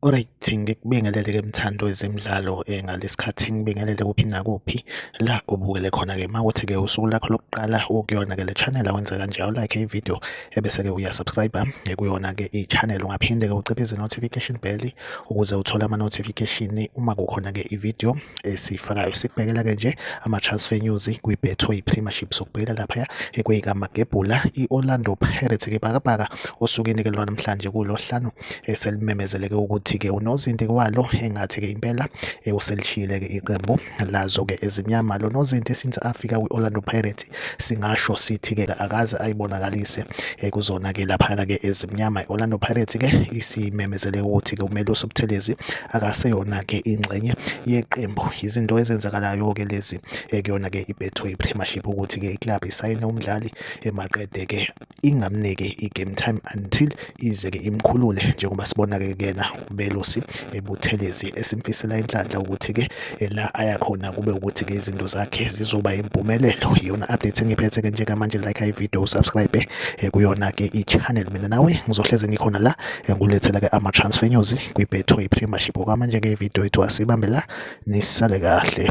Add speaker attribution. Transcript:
Speaker 1: Alright ngikubingelele ke mthando wezemidlalo eh, ngalesikhathi ngibingelele kuphi nakuphi la ubukele khona ke mawuthi ke usuku lakho lokuqala ukuyona ke le channel awenze kanje awu like ivideo ebese ke uya subscribe eh, kuyona ke i channel ungaphinde ke uciphe izi notification bell ukuze uthole ama-notification uma kukhona-ke i-video esiyifakayo sikubhekela-ke nje ama-transfer news kwi-betway premiership sokubhekela laphaya ekweyikamagebhula i-orlando pirates-ke bhakabhaka osukwini-ke lwa namhlanje kulohlanu eselimemezeleke ukuthi-ke unozinti kwalo engathi-ke impela uselishiyile-ke iqembu lazo-ke ezimnyama lo nozinti since afika kwi-orlando pirates singasho sithi-ke akaze ayibonakalise eh, kuzona-ke laphana-ke ezimnyama i-orlando pirates-ke isimemezele ukuthi-ke umele usubuthelezi akaseyona-ke ingxenye yeqembu izinto ezenzakalayo-ke lezi eh, kuyona-ke ibetway premiership ukuthi-ke iklabhu isayine umdlali emaqede-ke eh, ingamniki i-game time until ize-ke imkhulule njengoba sibona-ke kuyena umelusi ebuthelezi esimfisela inhlanhla ukuthi-ke eh, la ayakhona kube ukuthi-ke izinto zakhe zizoba impumelelo iyona update engiphethe-ke njengamanje like ivideo usubscribe eh, kuyona-ke i-channel mina nawe ngizohleze ngikhona la eh, ngulethela-ke ama-transfer news kwi-betway premiership okwamanje-ke ividiyo yethu asibambe la nisale kahle